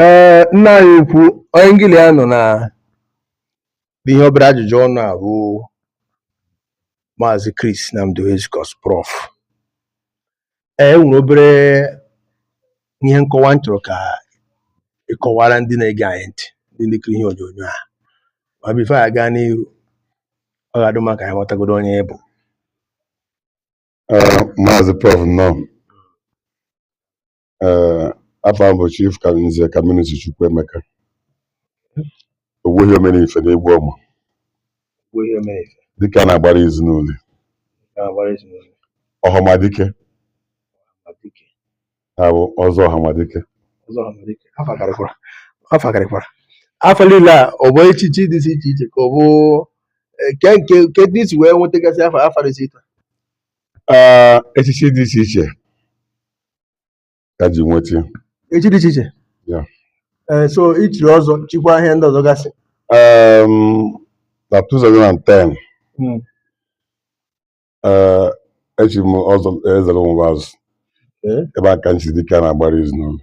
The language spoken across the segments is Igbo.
ee nna anyị ukwu onye ngị li ya nọ na ihe obere ajụjụ ọnụ a bụ maazị Chris Nnamdi Ezikos prof ee enwere obere ihe nkọwa m chọrọ ka ị kọwara ndị na-ege anyị ntị ndị na-ekiri ihe onyonyo a ma before anyị agaa n'iru ọ ga-adị mma ka anyị matagodu onye ị bụ maazị prof nnọọ Ee, afa m bụ Chief Ca- Nze Camillus Chukwuemeka Ogbuehi Omenife na Egbuọma dike a na-agbara izu n'Uli Ọhamadike bụ ọzọ Ọhamadike afa karịkwara afa karịkwara afa niile a ọ bụ echichi dị iche iche iche ka ọ bụ eh, kedụ ka i si wee nwetagasịa afa afa dị iche iche Ee, echichi dị iche iche ka e ji nweta ya echichi dị iche iche Ya. ee so i chiri ọzọ chikwa ihe ndị ọzọ gasị um, na 2010 Mm. eh, echi m ọzọ Ezeala Ụmụbazụ Okay. ebe a ka m chiri dike a na-agbara izu n'Uli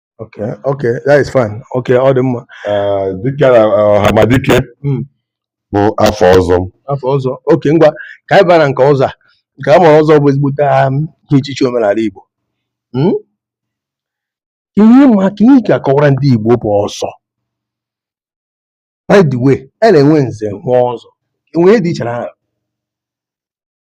Okay, okay, that is fine. Okay, ọ dị mma. Eh, dike na eh, ọhamadike Mm. bụ afa ọzọ m Afa ọzọ. Okay, ngwa ka anyị baa na nke ọzọ a. Nke a mara ọzọ bụ ezigbote ihe echichi omenala Igbo. Mm? Ihe ma ka ihe ka akọwara ndị Igbo bụ ọzọ. By the way, a na-enwe nze nwee ọzọ. Enwere ihe dị iche na ha.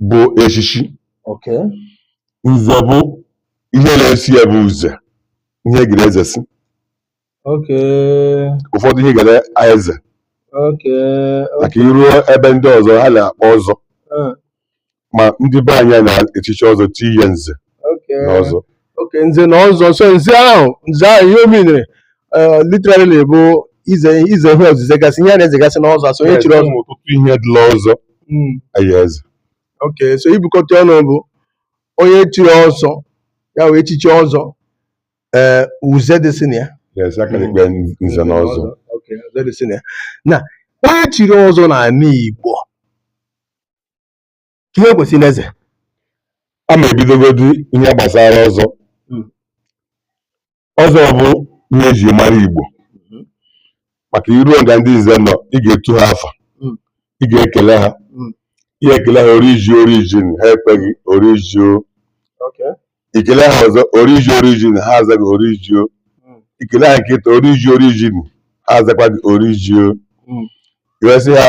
bụ echichi Okay. nze bụ ihe na-esi ya bụ uze ihe ị ga na-ezesi Okay. ụfọdụ ihe ị ga na-eze Okay. maka i ruo ebe ndị ọzọ ha na-akpọ ọzọ Uh, ma ndị be anyị na-echichi ọzọ ti ya nze na ọzọ okay nze na ọzọ so nze ahụ nze ahụ ihe ọ meanere literally bụ ize ize ihe ozize gasị ihe a na-ezegasị na ọzọ so onye chiri ọzọ ọtụtụ ihe dị la ọzọ hmm. ọ ya-eze okay so i bukọta ọnụ bụ onye chiri ọzọ ya wee echichi ọzọ ee uze dịsị na ya nze na ọzọ na onye chiri ọzọ n'ala Igbo ihe o kwesịrị na-eze a ma ebidogodu ihe gbasara ọzọ hmm. ọzọ bụ ihe eji mara Igbo hmm. maka i ruo nga ndị nze nọ ị ga-etu ha afa hmm. ị ga-ekele ha i kelee ha oriji orijin ha ekwe gị orijio i kelee ha ọzọ oriji orijin ha aza gị orijio i kelee ha nke atọ oriji orijin ha azakwa gị orijio i wee sị ha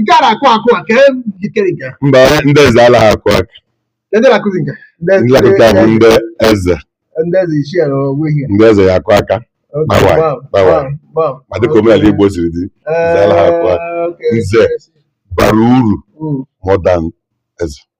nke a na-akụ akụ aka jikere nke mba ndị eze alaghị akụ aka ndị na-akụzi nke ndị akụ aka bụ ndị eze ndị eze ichie na ogbuehi ndị eze ya akụ aka Bawai, bawai. ma dịka omenala Igbo siri dị eze alaghị akụ aka nze bara uru more than eze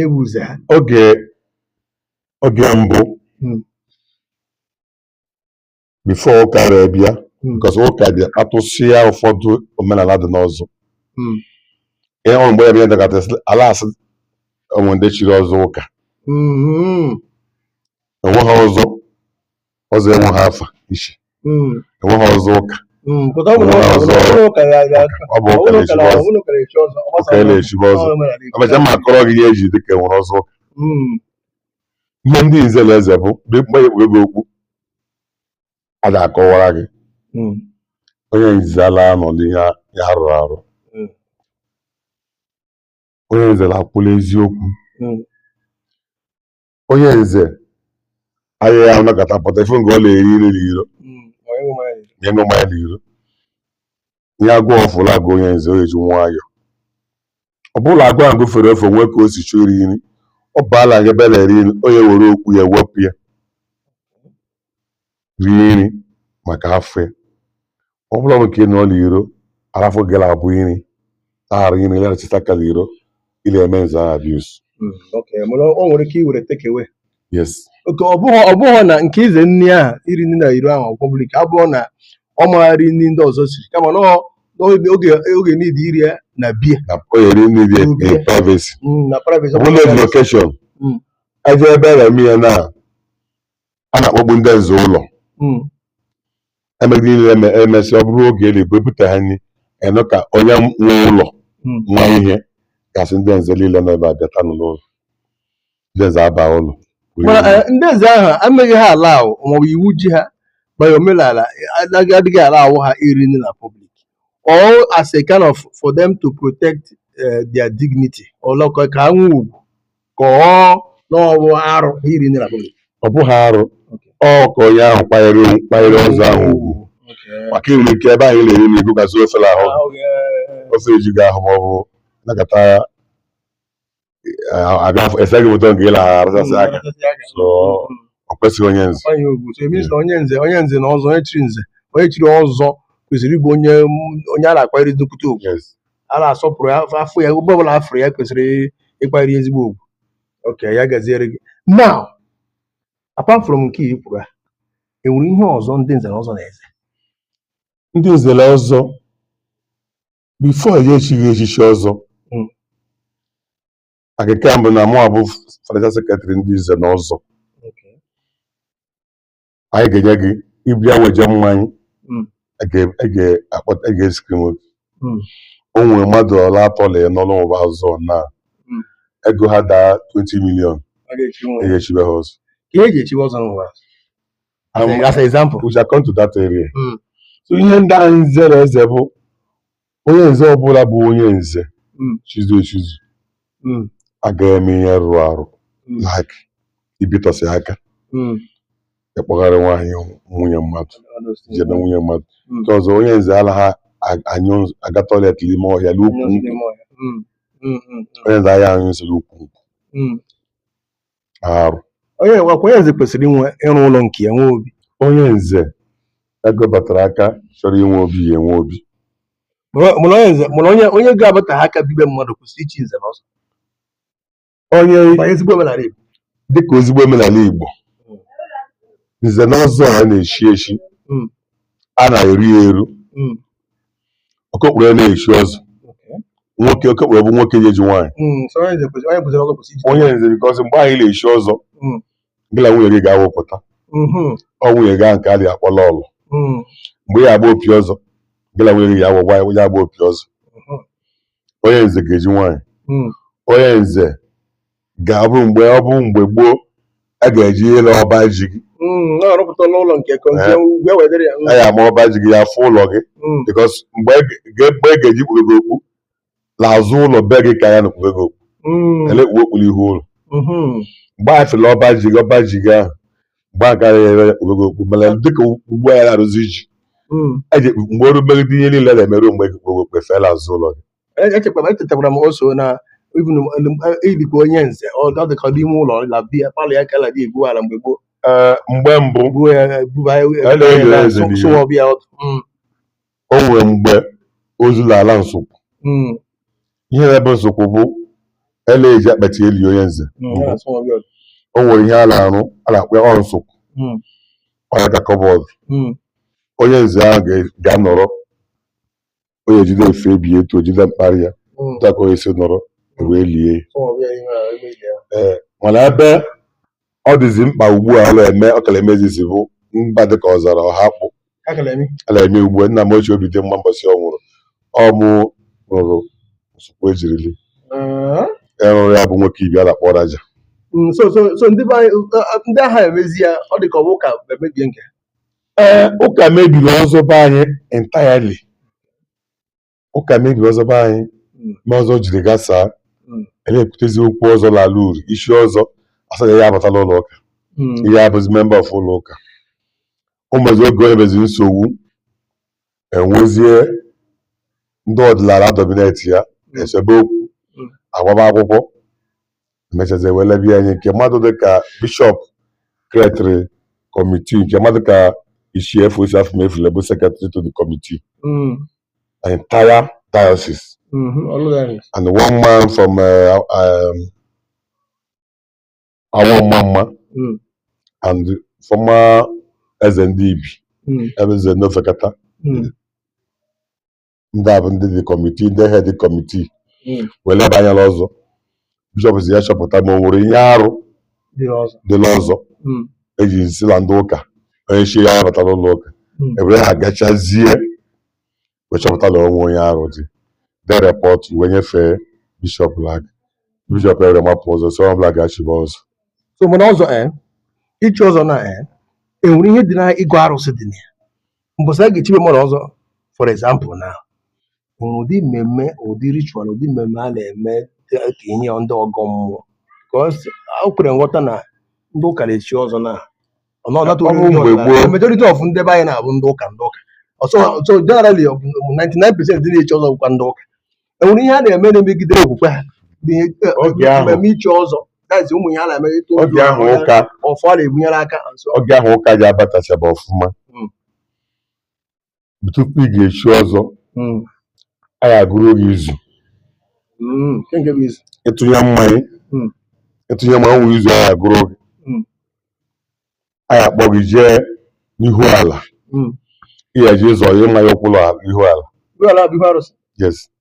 ewuze ha oge oge mbụ Mm. before ụka wee bịa Mm. because ụka bịa atụsịa ụfọdụ omenala dị n'ọzọ Mm. ihe o ru mgbe ya bịa dọkata sị, ala asị o nwe ndị chiri ọzọ ụka Mhm. enweghị ọzọ ọzọ enweghị afa ichi mm, enweghị ọzọ ụka mm, pụta ọ bụrụ Ọzọ- ọzọ- ọbụrụ ụka ya ya ọ bụ ụka ọbụrụ ụka na-echibe ọzọ ọbụrụ ụka na-echi ọzọ ọ gbasa ụka ọzọ. na-echibe ọzọ Ọ nwere adịghị. abịacha m akọrọ gị ihe eji dịka enwere ọzọ ụka Mm, ihe ndị nze na-eze bụ mgbe mgbe ekpube gị okpu a ga-akọwara gị mm, onye nze ala anọ n'ihe a- ya rụrụ arụ Mm. onye nze na-akwụ n'eziokwu mm, onye nze anaghị anọkata pụta ife nke ọ na-eri nri na iro ya ṅụ mmanya na iro ihe agụụ ọbụla agụ onye nze onye ji nwayọ ọ bụrụ na agụụ ahụ gụfere ofe nwee ka o si chọọ iri nri ọ baala nga ebe a na-eri nri onye were okpu ya wepụ ya rie nri maka afọ ya ọ bụla bụ nke ị nọ n'iro arafọ gị abụ nri aghara nri rachasịa aka n'iro ị na-eme nze ahụ abuse Mm, okay. Mana o nwere ike iwere take away yes okay ọ bụghị ọ bụghị na nke ize nri ahụ iri nri na iro ahụ public ọ bụ na ọ maghị eri nri ndị ọzọ siri kama na ọ- na oge oge- oge niile iri ya na be ya na o yere nri dị Obi. in privacy Mm, na privacy ọ bụla dị location Mm. aja ebe a na-eme ya na a na-akpọkpu ndị nze ụlọ Mm. eme ihe niile eme emesị ọ bụrụ oge eli bụ ebute ha nri ị nụ ka onye nwe ụlọ Mm. nwe ihe ga-asị ndị nze niile nọ ebe a bịata n'ụlọ ụlọ ndị nze aba ụlọ Mana, eh, ndị nze ahụ anaghị ha allow maọbụ iwu ji ha by omenala anaghị adịghị allow ha iri nri na public or as a kind of for them to protect eh, their dignity or like ka ha nwee ugwu ka ọ na ọ bụ arụ iri nri na public ọ bụghị arụ ọ ka onye ahụ kwanyere kwanyere ọzọ ahụ ugwu maka i nwere ike ebe ahụ ị na-eri nri ị gụgasị ofe n'ahụ ofe eju gị ahụ ma ọ bụ anọkata abịa ese gị foto nke ị na-arachasị aka so ọ kwesịghị onye nze onye ugwu so it means na onye nze onye nze na ọzọ onye chiri nze onye chiri ọzọ kwesịrị ịbụ onye onye a na-akwanyere nnukwute ugwu Yes. a na-asọpụrụ ya a fụ ya ebe ọbụla a fụrụ ya kwesịrị ịkwanyere ezigbo ugwu okay ya gaziere gị now apart from nke i kwuru a enwere ihe ọzọ ndị nze na ọzọ na-eze ndị nze na ọzọ before a ya-echi gị echichi ọzọ hmm. akịka mbụ na mụ abụ financial secretary ndị nze na ọzọ anyị ga-enye gị ị bịa weje mmanya Mm. a ga- a ga- akpọta a ga-escreen Mm. o nwere mmadụ ọla atọ na ya n'ọrụ ụba ọzọ na Mm. ego ha daa 20 million A ga-echi nwa. e ga-echibe ha ọzọ Ka ihe eji echiwe ọzọ n'ụwa. As Am- a- As an example. we shall come to that area Mm. so ihe ndị anyị zere eze bụ onye nze ọbụla bụ onye nze mm. chizu echizu mm. agaghị eme ihe rụrụ arụ mm. like ibitọsị aka ịkpọgharị nwaanyị nwunye mmadụ jebe nwunye mmadụ nke ọzọ onye nze anaghị anyụ aga toilet n'ime ọhịa n'ukwu nkwụ onye nze anaghị anyụ nsị n'ukwu arụ onye nze kwesịrị inwe ịrụ ụlọ nke ya nwee obi onye nze ego batara aka chọrọ inwe obi ya enwe obi mụrụ onye nze mụrụ onye onye ga-abata ha aka bi be mmadụ kwụsị ichi nze na ọzọ onye ezigbo omenala Igbo dịka ezigbo omenala Igbo nze na ọzọ a na-eshi eshi hmm. a na-eru ya eru hmm. okokporo ana-echi ọzọ nwoke okokporo bụ nwoke ejighị nwaanyị Mm, so onye kwesịrị onye kwesịrị ọgọ kwesịrị iji onye nze because mgbe anyị na-echi ọzọ Mm. gị na nwunye gị ga-awụpụta Mhm, ọ nwunye gị ahụ nke a da-akpọ lọlọ mm, mgbe ya agba opi ọzọ gị na nwunye gị ya agba ya agba opi ọzọ Mhm. onye nze ga-eji nwaanyị mm, onye nze ga-abụ mgbe ọ bụ mgbe gboo a ga-eji ile ọba ji gị Mm, ọ rụpụtala ụlọ nke konzie Eh. ugwu ewee dịrị ya Mm, a ya-ama ọba ji gị a fụ ụlọ gị mm, because mgbe e ga- mgbe e ga-eji kpube gị okpu n'azụ ụlọ be gị ka a ya-ekpube gị okpu mm, ele kpube okpu n'ihu ụlọ mhm, mgbe a fụla ọba ji gị ọba ji gị ahụ mgbe ahụ ka a ya-ekpube gị okpu mana dịka ugbu a ya na-arụzi ji mm. eji mgbe oru megide ihe niile na-emerụ mgbe e ji kpube okpu e fee n'azụ ụlọ gị E- echekwara echetakwara m also na even ilikwa onye nze ọ ọ dịka ọ dị ime ụlọ la be ya parlour ya ka a na-egwu ala mgbe gboo Ee, mgbe mbụ gboo ya buba ya A na-eli na- eze n'ihu. sụwa ọbịa ọdụ Mm, o nwere mgbe ozu na-ala nsụkwụ mm, ihe na-ebe nsụkwụ bụ ele eji akpati eli onye nze mm, ya na-asụ ọbịa ọdụ. o nwere ihe a na-arụ a na-akpọ ya ọ nsụkwụ Mm, ọ ya ka cupboard mm, onye nze ahụ ga- ga-anọrọ onye jide efe ebi etu o jide mkparị ya hmm. otu onye si nọrọ e wee lie e, mana ebe ọ dịzi mkpa ugbu a a la-eme ọ ka la-emezizi bụ mba dịka Ọzara Ọhakpụ a la-eme ugbu a nna m ochie Obidimma mbọsị ọ nwụrụ ọ mụ rụrụ nsukwu e jiri li rụrụ ya bụ nwoke Ibi a na-akpọ Raja hmm, so ndị agha emezi ya ọ dị ka ọ bụ ụka mebie nke Ee, ụka mebiri ọzọ be anyị entirely. Ụka mebiri ọzọ be anyị Mm. mee ọzọ jiri gasaa. Mm. A la-ekwutezi okwu ọzọ n'ala uri isi ọzọ a sị la ya abatala ụlọ ụka ya abụzi member of ụlọ ụka o mezi oge o nyebezi nsogbu enwezie ndị ọdịnala dominate ya esebe okwu Mm. agbaba akwụkwọ emechazi ewele bịa anyị nke mmadụ dịka bishọp createịrị kọmitii nke mmadụ ka isi efu isi afọ mefule bụ secretary to the committee Mm. entire diocese Mhm. Ọlụgharị. and one man from uh, um, Awo-Omamma Mm. and former eze ndị Ibi Mm. ebe eze n'Ofekata Mm. ndị a bụ ndị dị kọmitii ndị head kọmitii Mm. wee leba anya n'ọzọ bishọp sị ya chọpụta ma o nwere ihe arụ Dị ọzọ. dị n'ọzọ Mm. e ji sị na ndị ụka onye chi ya bata n'ụlọ ụka Mm. ewere ha gachazie wee chọpụta na o nweghị ihe arụ dị dee report wee nyefee bishọp l'aka bishọp ewere mapụ ọzọ sị onye ọbụla gaa chibe ọzọ so mana ọzọ ee ichi ọzọ na ee enwere ihe dị na ịgọ arụsị dị na ya mbọsị a ga-echibe mmadụ ọzọ for example na nwere ụdị mmemme ụdị ritual ụdị mmemme a na-eme dị ka ihe ndị ọgọ mmụọ because o kwere nghọta na ndị ụka na-echi ọzọ na majority of ndị be anyị na-abụ ndị ụka ndị ụka so generally 99 percent ndị na-echi ọzọ bụkwa ndị ụka enwere ihe a na-eme na-emegide okwukwe ha mmemme ichi ọzọ that is ụmụ ihe a na-eme oge ahụ ụka ọfọ na-ebunyere aka oge ahụ ụka ji abatachaba ọfụma hmm. tupu ị ga-echi ọzọ mm, a ga-agụrụ gị izu mm, nke nke bụ izu ịtụnye mmanya Mm. ịtụnye mmanya o nwere izu a ga-agụrụ gị Mm. a ga-akpọ gị jee n'ihu ala Mm. ị ga-eje ịzọ ihe mmanya ụkwụ l'ala ihu ala ihu ala bụ ihu arụsị yes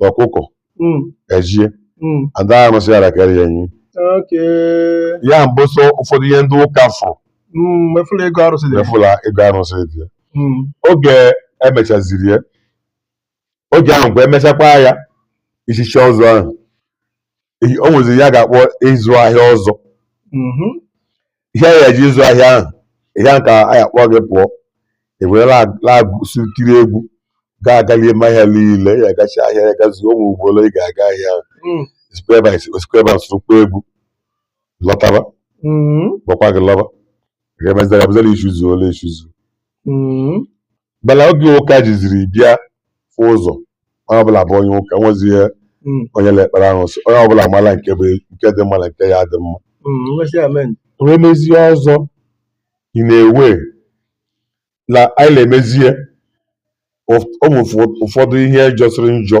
na ọkụkọ Mm, ejie mm, ada arụsị ala kara ya enyi okay. ya bụ sọ ụfọdụ ihe ndị ụka fụrụ Mm, fụ la ịgọ arụsị dị. fụ la ịgọ arụsị dị ya Mm, oge emechaziri ya oge ahụ kwa emechakwa ya ichichi ọzọ ahụ ehi- o nweziri ihe a ga-akpọ ịzụ ahịa ọzọ Mhm. ihe anyị ji ịzụ ahịa ahụ ihe ahụ ka a ya-akpọ gị pụọ ewere lagụsi tiri egwu gaa agalie ime ahịa niile ya agachi ahịa ya gazi ụmụ ugboro ị ga-aga ahịa ahụ Mm. sikwa ebe a esi- sikwa ebe a sụrụkwa egwu lọtaba Mhm. gbakwa gị lọba ga-emezara abụzi na ichizuola echizu Mhm. mana oge ụka jiziri bịa fụ ụzọ onye ọbụla bụ onye ụka nwezie Mm, onye na-ekpere arụsị onye ọbụla mara nke bụ nke dị mma na nke ya dị mma mm, nwesị amen. wee mezie ọzọ ị na-ewe na anyị na-emezie ụf- ụmụ ụfọ- ụfọdụ ihe jọsịrị njọ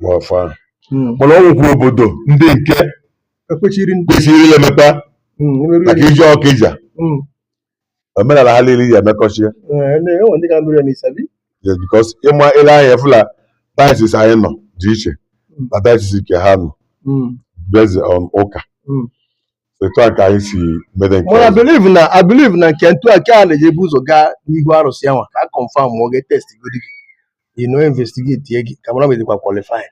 n'ọfọ ahụ hmm. mana ọ nwekwa obodo ndị nke e kwesịrị ilemeta hmm, maka ije Ọkịja hmm. omenala ha niile ji emekọchie eh, because ịma ile anya fụ la diocese anyị nọ dị iche na diocese nke ha nọ based on ụka etu a ka anyị si mede nke mana believe na I believe na nke ntụ aka a na-eji ebu ụzọ gaa n'ihu arụsị anwa ka a confirm ma ọ ga-etest godi gị you know investigate gị ka a mara ma ị dịkwa qualified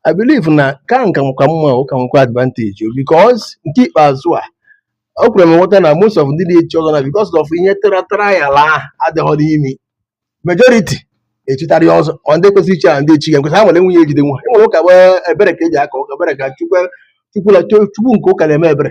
I believe na ka nke a ka mma ụka nwekwa advantage o because nke ikpeazụ a o kwere m nghọta na most of ndị na-echi ọzọ na because of ihe tara trial ahụ adịghọ n'ime majority echitarị ọzọ ọ ndị kwesịrị ichi ya ndị echi ga nkwesị ha nwere nwunye ejide nwa e nwere ụka bụ ebere ka eji aga ụka ebere ka chukwu chukwula chukwu nke ụka na-eme ebere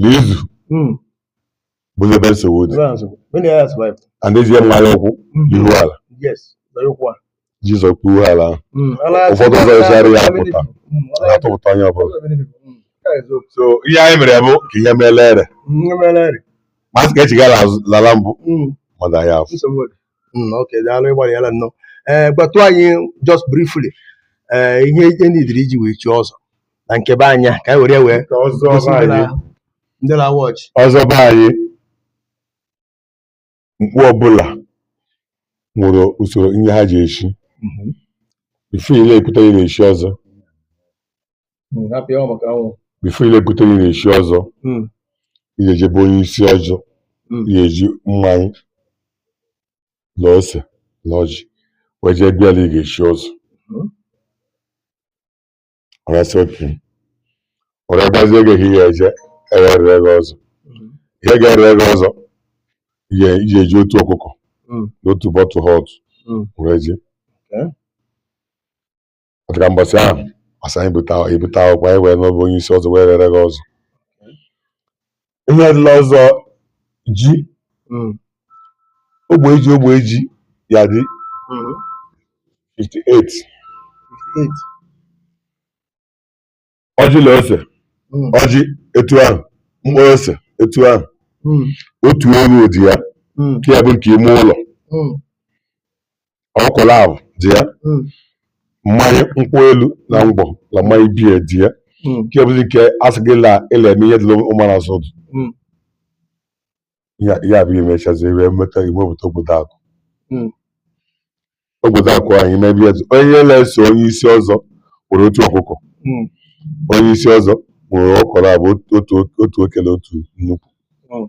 na izu hmm. bụ ebe nsogbu dị and ezie mmanya ụkwụ n'ihu ala ị zọsị ụkwụ ihu ala ahụ hmm, ụfọdụ azọsịa ya apụta atụpụta onye ọbụla so ihe anyị mere bụ ka ihe meele ere masị ka echigara lala mbụ mmadụ ahịa afọ Mm, ok daalụ ịgbalịala nnọọ ee gwatụ anyị just briefly ee ihe ihe needịrị iji wee chie ọzọ na nke be anyị ka anyị were ya wee Ka ọzọ gosi be ndị na- anyị. ndị na-awatch ọzọ be anyị mkpu ọbụla nwere usoro ihe ha ji eshi before ile ekwute ya na-eshi ọzọ Hmm, ha pịa maka anwụ before ile ekwute ị na-echi ọzọ Hmm. ị ga-eje be onye isi ọzọ Hmm. ị ga-eji mmanya na ose na ọjị wee jee bịa na ị ga-echi ọzọ Mhm. ọ ga-asị okay ọ ga-agbazi oge ka ị ga-eje erere gị ọzọ Mhm. ihe ga-ere gị ọzọ ị ga- ị ga-eji otu ọkụkọ Hmm. na otu bottle hot Hmm. wee jee Okay. O ruka mbọsị ahụ ọ sị anyị bute akwụkwọ ebute akwụkwọ anyị wee nọ be onye isi ọzọ wee rere gị ọzọ ihe dị la ọzọ ji Mm. ogbe ji ogbe ji ya dị Mm. 58 Eight. ọjị na ose mm. ọjị etu ahụ mkpụrụ ose etu ahụ mm. otu ewu dị ya mm. ya bụ nke ime ụlọ ọkụkọ naabọ dị ya mmanya nkwụ elu na ngwọ na mmanya biya dị ya nke bụzi nke asị gị na ịla eme ihe dị ụmara asọdụ ya ya bụ imechazi wee meta iwepụta obodo akụ Mm. obodo akụ anyị n'ebe ya onye na-eso onye isi ọzọ nwere otu ọkụkọ Mm. onye isi ọzọ nwere ọkụkọ naabọ otu- otu otu oke la otu nnekwu Mm.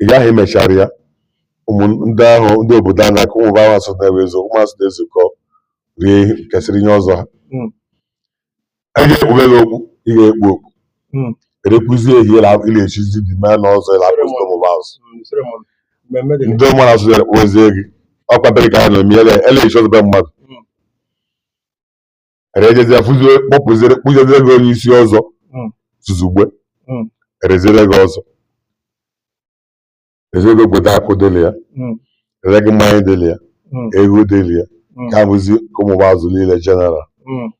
ị gaghị emechara ya ụmụ ndị ahụ ndị obodo a na-akụ ụmụ ahụ asụ na-ewe ezo ụmụ asụ na-ezukọ rie ihe- kesịrị ihe ọzọ ha Mm. a ga-ekpube gị okpu ị ga-ekpu okpu Mm. erekwuzie ehi ịla ịla echizi dị mee n'ọzọ ịla akpụzi ụmụ azụ Mm, sịrị m, mmemme gịnị? ndị mmadụ asụ ya kpụzie gị ọkwa bere ka ha na-eme ele ele echi ọzọ be mmadụ Mm. erejezie fụzie kpọpụziere kpụjezie gị onye isi ọzọ Mm. zuzugbe Mm. ereziere gị ọzọ ezego kweta akụ dịlị ya Mm. ere gị mmanya dịlị ya Mm. ego dịlị ya Mm. ka bụzi ka ụmụ azụ niile jeneral Mm.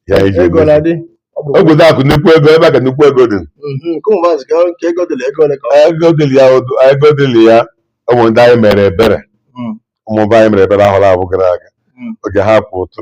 ya iji ego egosi na-adị ọ bụ obodo akụ nnukwu ego ebe a ka nnukwu ego dị Mhm, nke ụmụ maazị ka nke ego dịla ego ole ka ọ ego dịlị ya odu- ego dịlị ya ụmụ ndị anyị mere ebere Mm. ụmụba anyị mere ebere ahọ naabọ gara aga Mm. oge ha kwụ ụtụ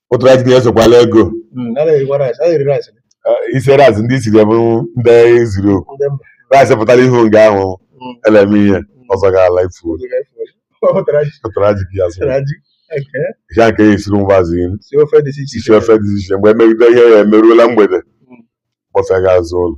otu rice gị esokwala ego Mm, a na-erikwa rice, a na-eri rice. Eh, isi rice ndị isiri bụ ndị eziri oku Ndị mba. rice pụtara ihu nga ahụ Mm. eleme ihe ọzọ ga-ala ifu Oge ka efu oge. ụtara ji, ụtara ji gị azụ ụtara ji. Okay. ihe nke ya esiri mgbazi Si ofe dị iche iche. isi ofe dị iche iche mgbe emegide ihe ya emeruola mgbede Mm. kpọsa gaa azụ ụlọ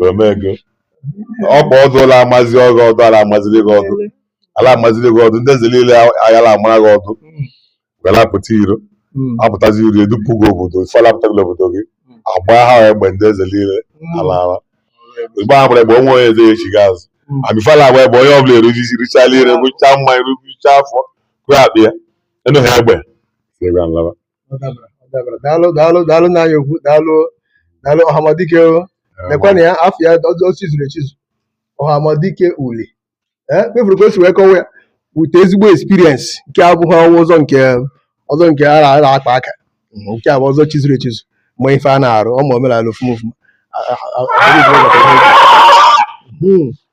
omego ọ bụ ọdụ ala amazi ọdụ ọdụ ala amaziri gị ọdụ ala amaziri gị ọdụ ndị nze niile ayala amara gị ọdụ were apụta iro Mm. apụtazi iro edupu gị obodo ife ala apụta gị obodo gị Mm. agba ha egbe ndị nze niile Mm. ala ala igbe ha gbara egbe onwe onye eze echi gị azụ Mm. amifala agba egbe onye ọbụla erujisi richala nri ṅụchaa mmanya rụchaa afọ kwe akpị ya enụghị egbe si ebe a nlaba daalụ daalụ daalụ nna anyị okwu daalụ daalụ ọhamadike lekwana ya afọ ya ọzọ chizuru echizu ọhamadike uli kpefuru ka o si wee kọwa ya wute ezigbo experience nke abụghị ọnwa ọzọ nke ọzọ nke a na-akpa aka nke a bụ ọzọ chizuru echizu ma ife a na-arụ ọma omenala ofuma ofuma